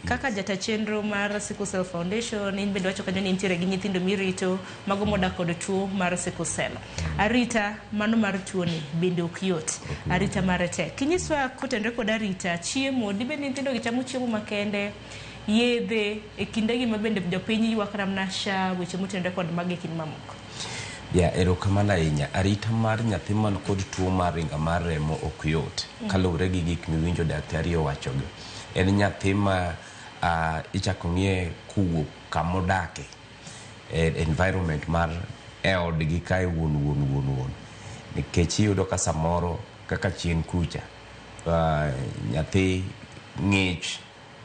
Kaka jata chenro mar Sickle Cell Foundation, in bende wacho kanyo ni intiere gi nyithindo mirito mago modak kod tuo mar Sickle Cell. Arita mano mar tuoni bende ok yot. Arita mare tek. Kinyiswa kotenre kod arita, chiemo, dibed ni nyithindo gi chamo chiemo makende, yedhe e kinde gi mabende jopiny ywak namna sha weche motenre kod magi e kind mamoko. Ya erokamano ahinya. Arita mar nyathi man kod tuo mar ringa mar remo ok yot kaluwre gi gik miwinjo daktari owachogi. en nyathi ma uh, ichako ng'iye kowuok kama odake e, environment mar eodgi kae wuon wuon wuon wuon nikech iyudo ka samoro kaka chien kucha uh, nyathi ng'ich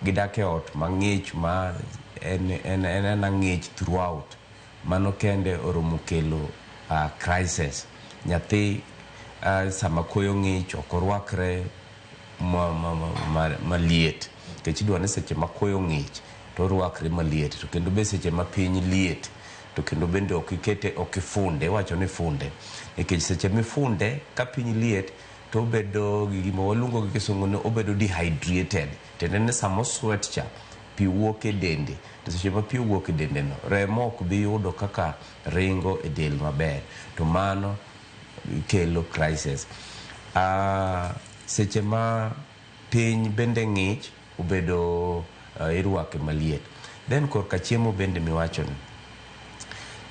gidak e ot mang'ich ma en, en, en, en ang'ich throughout mano kende oromo kelo uh, crisis nyathi uh, sama koyo ng'ich ok orwakre maliet nikech idwa ni seche ma koyo ng'ich to orwakre maliet to kendo be seche ma piny liet to kendo bende ok ikete ok ifunde iwacho ni ifunde nikech seche mifunde ka piny liet to obedo gi gima waluongo gi kisungu ni obedo dehydrated tiende ni sama oswet cha pi wuok e dende to seche ma pi owuok e dendeno remo ok bi yudo kaka ringo e del maber to mano kelo crisis. Ah, seche ma piny bende ng'ich obedo uh, irwake maliet. Then korka chiemo bende miwachoni.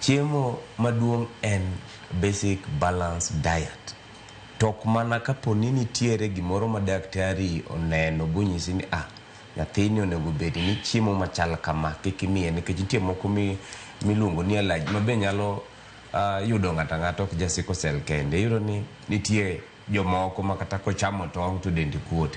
Chiemo maduong' en basic balance diet. Tok mana kaponi nitiere gimoro ma daktari oneno bonyisi ni ah, nyathini onego bed ni chiemo machal kama kik imiye nikech nitie moko mi- miluongo ni allergy ma be nyalo Uh, yudo ng'ato ang'ata ok ja sickle cell kende iyudo ni nitie jomoko ma kata kochamo tong' to dende kuot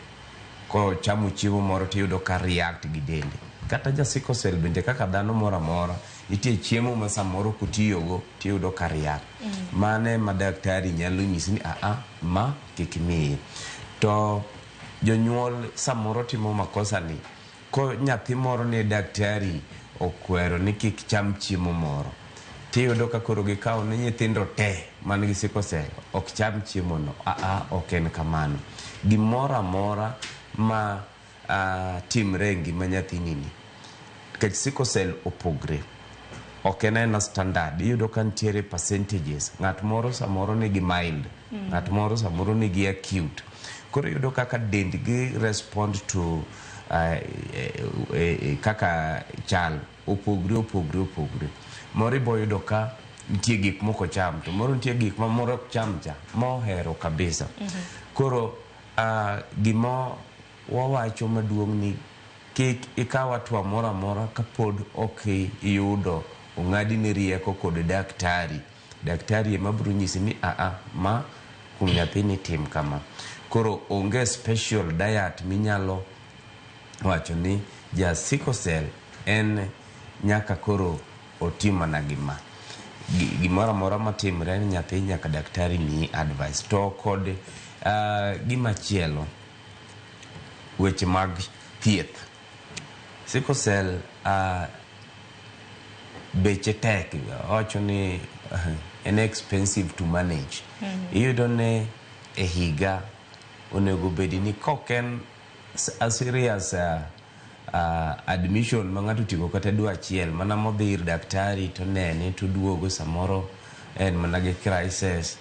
kochamo chiemo moro to iyudo ka react gi dende kata ja sickle cell bende kaka dhano moro amora nitie chiemo ma samoro kutiyogo to iyudo ka react mm. mane ma daktari nyalo nyisi ni aa ma kik miye to jonyuol samoro timo makosa ni Ko nyathi moro ne daktari okwero ni kik cham chiemo moro, tiyudo ka koro gikawo ni nyithindo te man gi sickle cell ok cham chiemo no. Aa, ok en kamano. Gimoro amora ma timre e ngima nyathini ni, nikech sickle cell opogre, ok en aena standard. Iyudo ka nitiere percentages. Ng'at moro samoro nigi mild, ng'at moro samoro nigi acute. Koro iyudo kaka dendgi respond to uh, uh, uh, kaka chal opogre opogre opogre. Moro ibo yudo ka nitie gik moko cham to moro nitie gik ma moro ok cham cha mohero kabisa. Mm -hmm. Koro uh, gimo wawacho maduong' ni kik ikaw atwa moro amora kapod ok iyudo ong'adi ni rieko kod daktari. Daktari ema biro nyisi ni a a ma kuom nyathini tim kama. Koro onge special diet minyalo wacho ni ja sickle cell en nyaka koro otim mana gi ma. Gimoro amora matimre ne nyathi nyaka daktari miyi advice. To kod gimachielo, weche mag thieth. Sickle cell a beche tek awacho ni en expensive to manage iyudo ni e higa onego bedi ni kok en s- a serious uh, uh, admission ma ng'ato otieko kata dwe achiel mana modhi ir daktari to nene to duogo samoro en mana gi crisis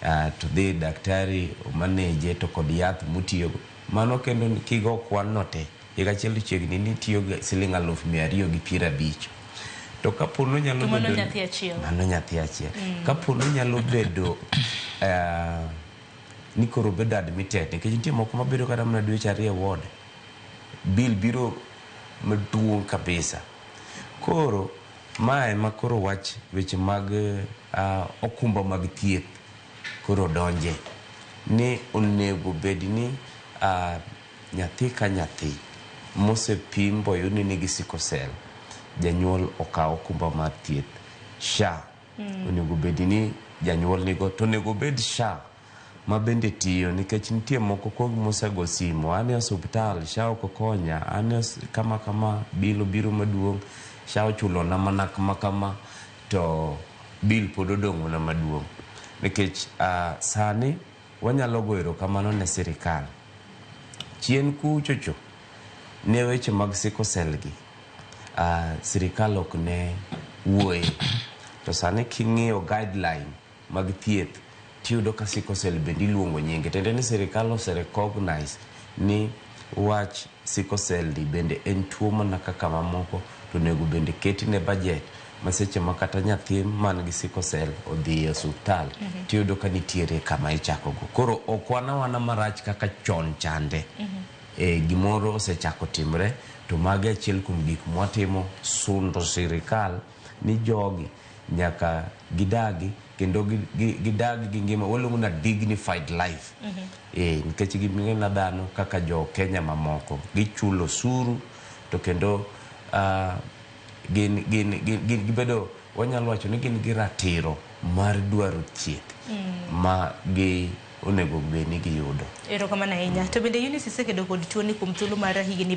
uh, to dhi ir daktari omaneje to kod yath motiyogo Mano kendo ni kigo kwan no te, higa achiel to chiegni ni itiyo gi siling' aluf mia ariyo gi piero abich. To ka po ni onyalo To mano bedo ni- nyathi achiel. Mano nyathi achiel. Ka po ni onyalo bedo eh, ni koro obedo admitted, nikech nitie moko mabedo kata mana dweche ariyo e ward, bill biro maduong' kabisa. Koro, ma ema koro wach weche mag ah, okumba mag thieth. koro donje ni onego bed ni nyathi ka nyathi mosepim boyud ni nigi sickle cell janyuol okaw okumba mar thieth SHA onego bed ni janyuol nigo to onego bed SHA ma bende tiyo nikech nitie moko kuom mosego simo an e osuptal SHA ok okonya an kama kama bill obiro maduong' SHA ochulona mana kama kama to bill pod odong'ona maduong' nikech sani wanyalo goyo erokamano ne sirikal. Chien kuchocho ne weche mag sickle cell gi, sirikal ok ne wuoye to sani king'iyo guideline. mag thieth tiyudo ka sickle cell bende iluongo nyinge tiende ni sirikal ose recognize ni wach sickle cell ni bende en tuo mana kaka mamoko to onego bende ketine budget ma seche ma kata nyathi man gi sickle cell odhi e osuptal tiyudo ka nitiere kama ichako go koro ok wana wana marach kaka chon chande e, gimoro osechako timre to magi achiel kuom gik mwatimo sundo sirikal ni jogi nyaka gidagi kendo gi- gi- gidag gi ngima waluongo na dignified life Eh, nikech ging'ena dhano kaka jo kenya mamoko gichulo osuru to kendo ah, gin gin gin gin gibedo wanyalo wacho ni gin gi ratiro mar dwaro thieth ma gi onego bed ni giyudo Erokamano ahinya. To bende Eunice isekedo kod tuoni kuom thuolo mar higni